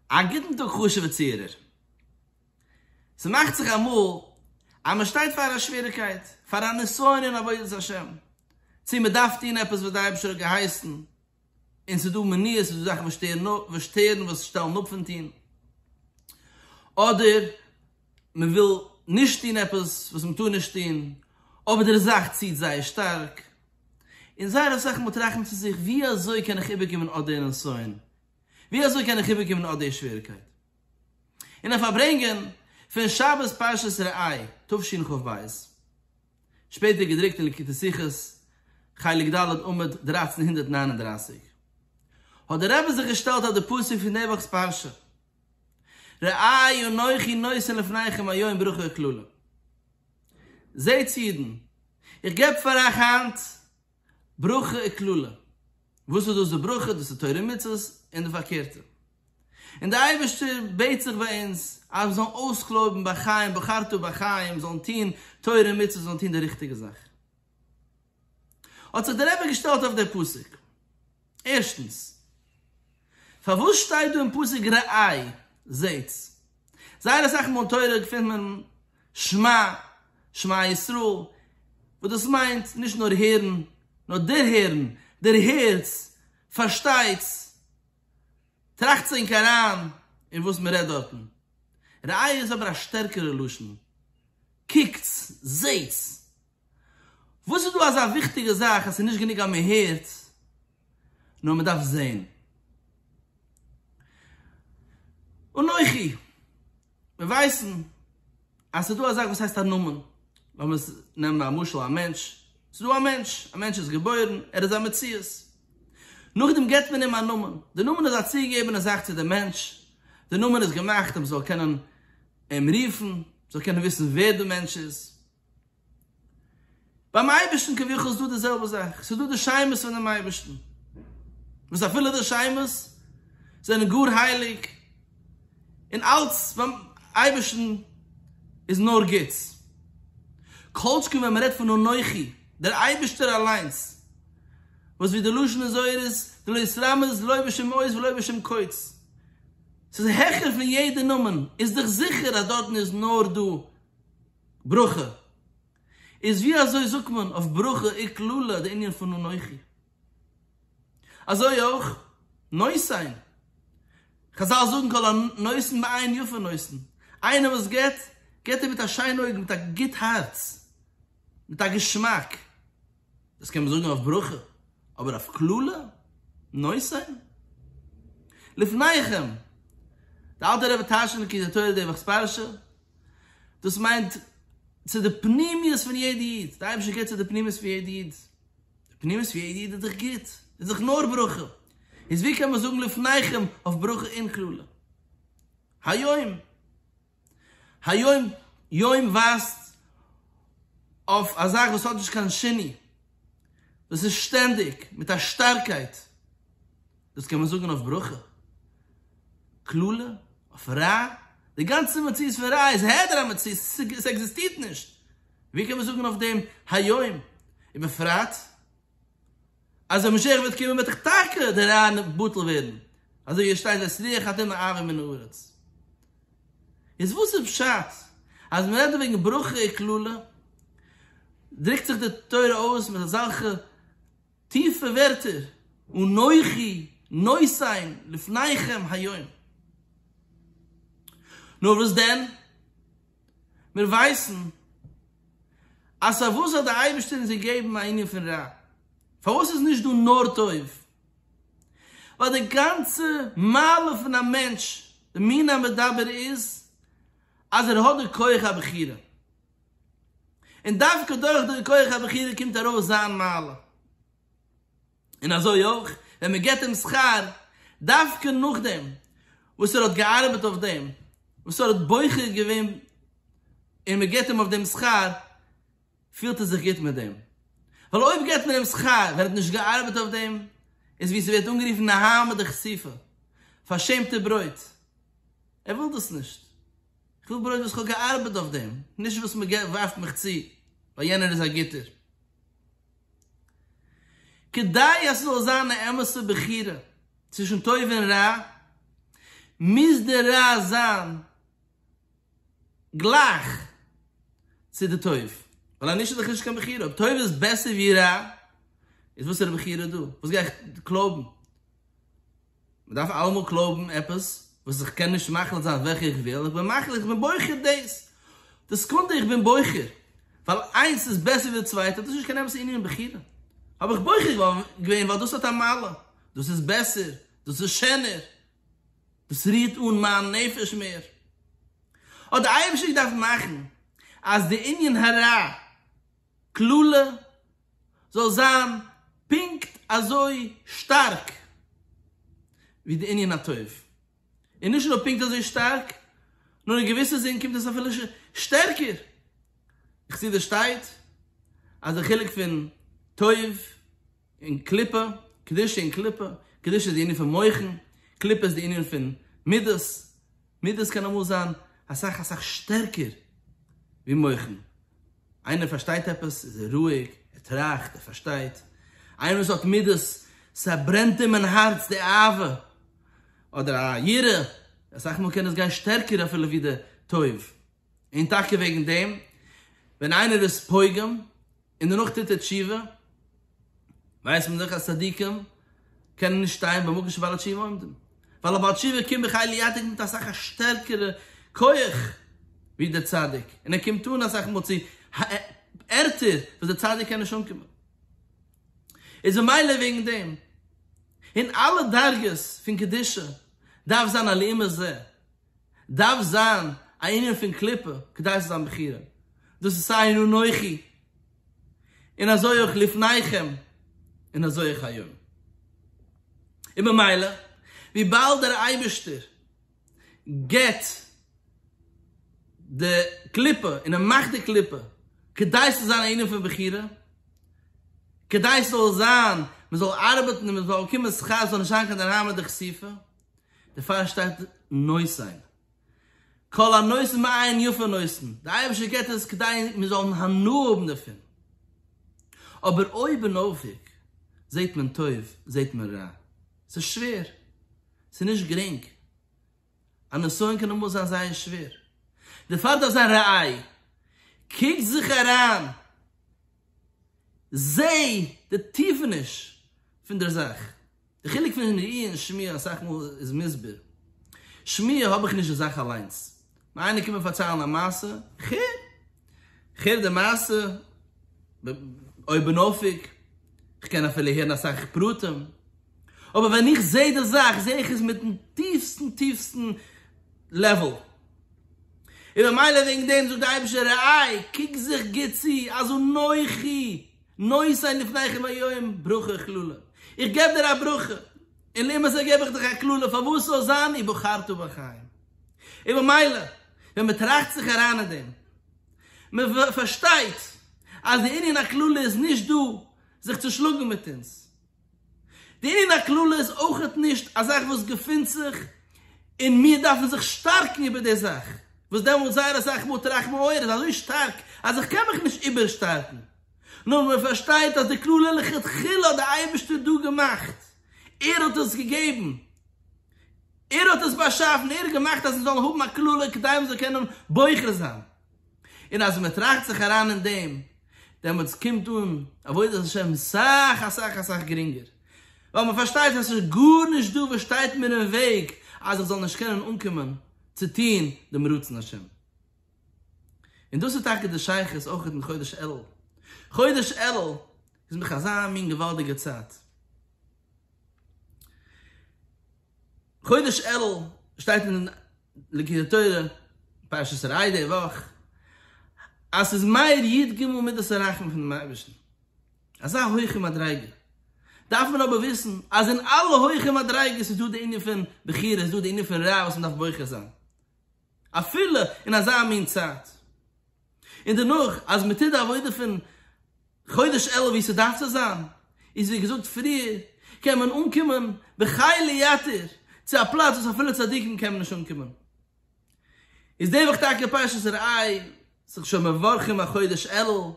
א גוטן טאג חשוב'ע צוהערער. ס'מאכט זיך אמאל אז מ'שטייט פאר א שוועריקייט, פאר א נסיון אין עבודת השם, צו מ'דארף טון עפעס וואס דער אייבערשטער האט געהייסן, און ס'איז דא מניעות, ס'איז דא זאכן וואס שטערן אפ, וואס שטערן, וואס שטעלן אפ פון טון, אדער מ'וויל נישט טון עפעס וואס מ'טאר נישט טון, אבער דער זאך ציט זייער שטארק, און זייער אסאך מאל טראכט מען צו זיך, ווי אזוי קען איך איבערקומען אט דער נסיון, ווי אזוי קען איך איבערקומען אט די שוועריקייט און א פארברענגען פון שבת פרשת ראה תשנ ח ב, שפעטער געדרוקט אין ליקוטי שיחות חלק ד' עמוד דרײַצן הונדערט נײַן און דרײַסיק, האט דער רבי זיך געשטעלט אויף די פסוק פון די וואכ'ס פרשה, ראה אנכי נותן לפניכם היום ברכה וקללה, זעטס אידן, איך געב פאר אייך היינט, ברכה און קללה. וואס איז דאס די ברכה? דאס איז תורה ומצוות און די פארקערטע. און דער אייבערשטער בעט זיך ביי אונז אז מיר זאלן אויסקלויבן בחיים בחרתו בחיים, זאלן טון תורה און מצוות, זאלן טון די ריכטיגע זאך. האט זיך דער רבי געשטעלט אויף דער פסוק. ערשטנס, פארוואס שטייט דא אין פסוק רעאי? זעהטס, זייער אסאך מאל אין תורה געפינט מען שמע, שמע ישראל, וואס דאס מיינט נישט נאר הערן, נאר דערהערן, דערהערטס, פארשטייטס, טראכטס ענק אריין אין וואס מען רעדט דארטן. רעאי איז אבער א שטערקערע לשון, קוקטס, זעהטס. וואס איז דא אזא וויכטיגע זאך אז ס'איז נישט גענוג אז מען הערט נאר מען דארף זעהן? אנכי, מיר ווייסן אז ס'איז דא א זאך וואס הייסט א נאמען, לאמיר נעמען א משל א מענטש, ס'איז דא א מענטש, א מענטש איז געבוירן, ער איז א מציאות, נאכדעם געבט מען אים א נאמען, די נאמען איז א צוגעגעבענע זאך צו דעם מענטש, די נאמען איז געמאכט אז מען זאל קענען אים רופן, מען זאל קענען וויסן ווער די מענטש איז. ביים אייבערשטן כביכול איז דא די זעלבע זאך, ס'איז דא די שמות פונעם אייבערשטן, וואס אפילו די שמות זענען גאר הייליג, און אלץ ביים אייבערשטן איז נאר גוטס, כל שכן ווען מ'רעדט פון אנכי, דער אייבערשטער אליינס, וואס ווי די לשון איז זוהר איז, די לא יתרמז לא בשום אות ולא בשום קוץ, ס'איז העכער פון יעדע נאמען, איז דאך זיכער אז דארטן איז נאר דא ברכה איז ווי אזוי זאגט מען אויף ברכה אי קללה די ענין פון אנכי. אזוי אויך נושאין, חזל זאגן כל הנושאין בעין יפה נושאין, איינער וואס געבט, געבט ער מיט א שיין אויג, מיט א גוט הארץ, מיט א געשמאק. דאס קען מען זאגן אויף ברכה, אבער אויף קללה? נושאים? לפניכם! די אלטע רבי טאשענער כי זה תורה דבח ספרשה, דאס מיינט צו די פנימיות פון יעדע איד, די אייבערשטער קערט צו די פנימיות פון יעדע איד, די פנימיות פון יעדע איד איז דאך גוט, איז דאך נאר ברכה, איז ווי קען מען זאגן לפניכם אויף ברכה און קללה? היום! היום יום ווייזט אויף א זאך וואס האט נישט קיין שני, דאס איז שטענדיג מיט א שטארקייט, דאס קען מען זאגן אויף ברכה, קללה, אויף רע, די גאנצע מציאות פון רע איז העדר המציאות, עס עקזיסטירט נישט, ווי קען מען זאגן אויף דעם היום, ובפרט אז ווען משיח וועט קומען וועט דאך טאקע דער רען בטל ווערן, אזוי ווי עס שטייט ואת רוח הטומאה אעביר מן הארץ. איז וואס איז פשט אז מ'רעדט דא וועגן ברכה און קללה? דרוקט זיך די תורה אויס מיט אזעלכע טיפע ווערטער, אנכי נוסעים לפניכם היום. נאר וואס דען? מיר ווייסן אז פארוואס האט דער אייבערשטער אונז געגעבן א ענין פון רע? פארוואס איז נישט דא נאר טוב? ווייל די גאנצע מעלה פון א מענטש, די מין המדבר איז אז ער האט די כח הבחירה, און דווקא דורך די כח הבחירה קומט ארויס זיין מעלה, און אזוי אויך ווען מען געבט אים שכר דווקא נאכדעם וואס ער האט געארבעט אויף דעם וואס ער האט בוחר געווען און מען געבט אים אויף דעם שכר פילט ער זיך גוט מיט דעם ווייל אויב געבט מען אים שכר ווען ער האט נישט געארבעט אויף דעם איז ווי ס'ווערט אנגערופן נהמא דכסיפא פארשעמטע ברויט ער וויל דאס נישט איך וויל ברויט וואס איך האב געארבעט אויף דעם נישט וואס מען ווארפט מיך צו ווייל יענער איז א גוטער. כדי אז ס'זאל זיין א אמת'ע בחירה צווישן טוב און רע, מוז די רע זיין גלייך צו די טוב, ווייל אנישט איז דאך נישט קיין בחירה. אויב טוב איז בעסער ווי רע, איז וואסערע בחירה דא? וואס גיי איך קלויבן? מען דארף אלעמאל קלויבן עפעס וואס איך קען נישט מחליט זיין וועלכע איך וויל, איך בין מחליט, איך בין בוחר דאס, די סעקונדע איך בין בוחר, ווייל איינס איז בעסער ווי די צווייטע, דאס איז נישט קיין אמת, ס'איז ענין בחירה, האב איך בוחר געווען ווייל דאס האט א מעלה, דאס איז בעסער, דאס איז שענער, דאס רירט אן מיין נפש מער, האט די אייבערשטער געדארפט מאכן אז די ענין הרע. קללה זאל זיין פונקט אזוי שטארק ווי די ענין הטוב, און נישט נאר פונקט אזוי שטארק, נאר אין געוויסע זין קומט עס אפילו שטערקער. חסידות שטייט אז די חילוק פון טוב. און קליפה, קדושה און קליפה, קדושה איז די ענין פון מוחין, קליפה איז די ענין פון מידות, מידות קען אמאל זיין אסאך אסאך שטערקער ווי מוחין, איינער פארשטייט עפעס איז ער רואיג, ער טראכט, ער פארשטייט, איינער וואס האט מידות, ס'ברענט אים אין הארץ די אהבה, אדער א יראה, אסאך מאל קען עס גיין שטערקער אפילו ווי די טוב, און טאקע וועגן דעם ווען איינער איז פוגם, און דערנאך טוט ער תשובה, ווייסט מען דאך אז צדיקים קענען נישט שטיין במקום שבעלי תשובה עומדים, ווייל א בעל תשובה קומט בכלי לידק מיט אסאך א שטערקערע כח ווי דער צדיק, און ער קומט אן אסאך מאל צו ערטער וואס דער צדיק קען נישט אנקומען, איז ממילא וועגן דעם אין אלע דרגות פון קדושה דארף זיין הלימה זו, דארף זיין א ענין פון קליפה כדי ס'זאל זיין בחירה, דאס איז סיי אין אנכי און אזוי אויך לפניכם און אזוי אויך היום, און במילא וויבאלד דער אייבערשטער געבט די קליפה און ער מאכט די קליפה כדי ס'זאל זיין א ענין פון בחירה, כדי ס'זאל זיין מ'זאל ארבעטן און מ'זאל באקומען שכר ס'זאל נישט זיין קיין דערהיימער דכסיפא, דערפאר שטייט נושאין כל הנושא מעיין יפה נושאין, דער אייבערשטער געט עס כדי מיר זאלן הנאה האבן דערפון, אבער אויבנאויף זעט מען טוב זעט מען רע, ס'איז שווער, ס'איז נישט גרינג, א נסיון קען אמאל זיין זייער שווער, דערפאר דארף זיין ראי', קוק זיך אריין, זע די טיפעניש פון דער זאך. די חילוק פון שמעי' און שמיעה אסאך מאל איז מוסבר. שמעי' האב איך נישט די זאך אליינס. נאר איינער קומט מיר פארציילן א מעשה, כ'הער. כ'הער די מעשה אויבנאויפיג. כ'קען אפילו הערן אסאך פרטים. אבער ווען איך זע די זאך, זע איך עס מיט'ן טיפסטן טיפסטן לעוועל. און ממילא וועגן דעם זאגט דער אייבישטער רעי, קוק זיך גוט צו, אז אנכי נושאי לפניכם היום ברכה קללה, איך געב דיר א ברכה, און למעשה געב איך דיך א קללה, פארוואס זאל זיין ובחרת בחיים. און במילא, ווען מען טראכט זיך אריין אין דעם, מען פארשטייט אז די ענין הקללה איז נישט דא זיך צו שלאגן מיט אונז, די ענין הכללי איז אויכעט נישט א זאך וואס געפינט זיך און מיר דארפן זיך שטארקן איבער די זאך, וואס דעמאלט זייער אסאך מאל טראכט מען אוי ער איז אזוי שטארק אז איך קען מיך נישט איבערשטארקן, נאר מען פארשטייט אז די כללי לכתחילה האט די אייבערשטער דא געמאכט, ער האט עס געגעבן, ער האט עס באשאפן, ער האט געמאכט אז מיר זאלן האבן א כללי כדי מען זאל קענען בוחר זיין. און אז מען טראכט זיך אריין אין דעם, דעמאלטס קומט אן עבודת השם סאך אסאך אסאך גרינגער, ווייל מען פארשטייט אז ס'איז גארנישט דא וואס שטייט מיר אין וועג אז איך זאל נישט קענען אנקומען צו טון דעם רצון השם. און דאס איז טאקע די שייכות אויך אין חודש אלול. חודש אלול איז מיך אזא מין געוואלדיגע צייט. חודש אלול שטייט אין ליקוטי תורה פרשת ראה די וואך אז ס'איז מאיר י ג מידת הרחמים פונעם אייבערשטן, אזא הויכע מדריגה, דארף מען אבער וויסן אז אין אלע הויכע מדריגות איז דא די ענין פון בחירה, איז דא די ענין פון רע וואס מ'דארף בוחר זיין. אפילו אין אזא מין צייט. און דערנאך אז מען טוט די עבודה פון חודש אלול ווי ס'דארף צו זיין, איז ווי געזאגט פריער, קען מען אנקומען בחי' ליתר צו א פלאץ וואס אפילו צדיקים קענען נישט אנקומען. איז די וואך טאקע פרשת ראה, זיך שוין מברכים אויף חודש אלול,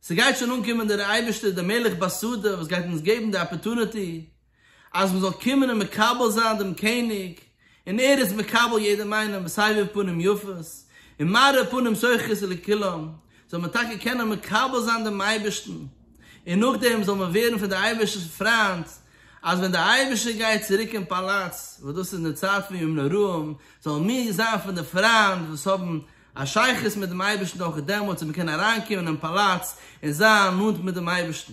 ס'גייט שוין אנקומען דער אייבערשטער דער מלך בשדה וואס גייט אונז געבן די אפערטוניטי, אז מען זאל קומען און מקבל זיין דעם קעניג, און ער איז מקבל יעדעם איינעם בסבר פנים יפות, און מארה פנים שוחרית לכולם, זאל מען טאקע קענען מקבל זיין דעם אייבערשטן, און נאכדעם זאל מען ווערן פון דער אייבערשטער'ס פריינד, אז ווען דער אייבערשטער גייט צוריק אין פאלאץ, וואס דאס איז אין די צייט פון ימים נוראים, זאלן מיר זיין פון די פריינד וואס האבן א שייכות מיט דעם אייבערשטן אויך דעמאלט, און מיר קענען אריינקומען אין פאלאץ און זיין נאנט מיט דעם אייבערשטן.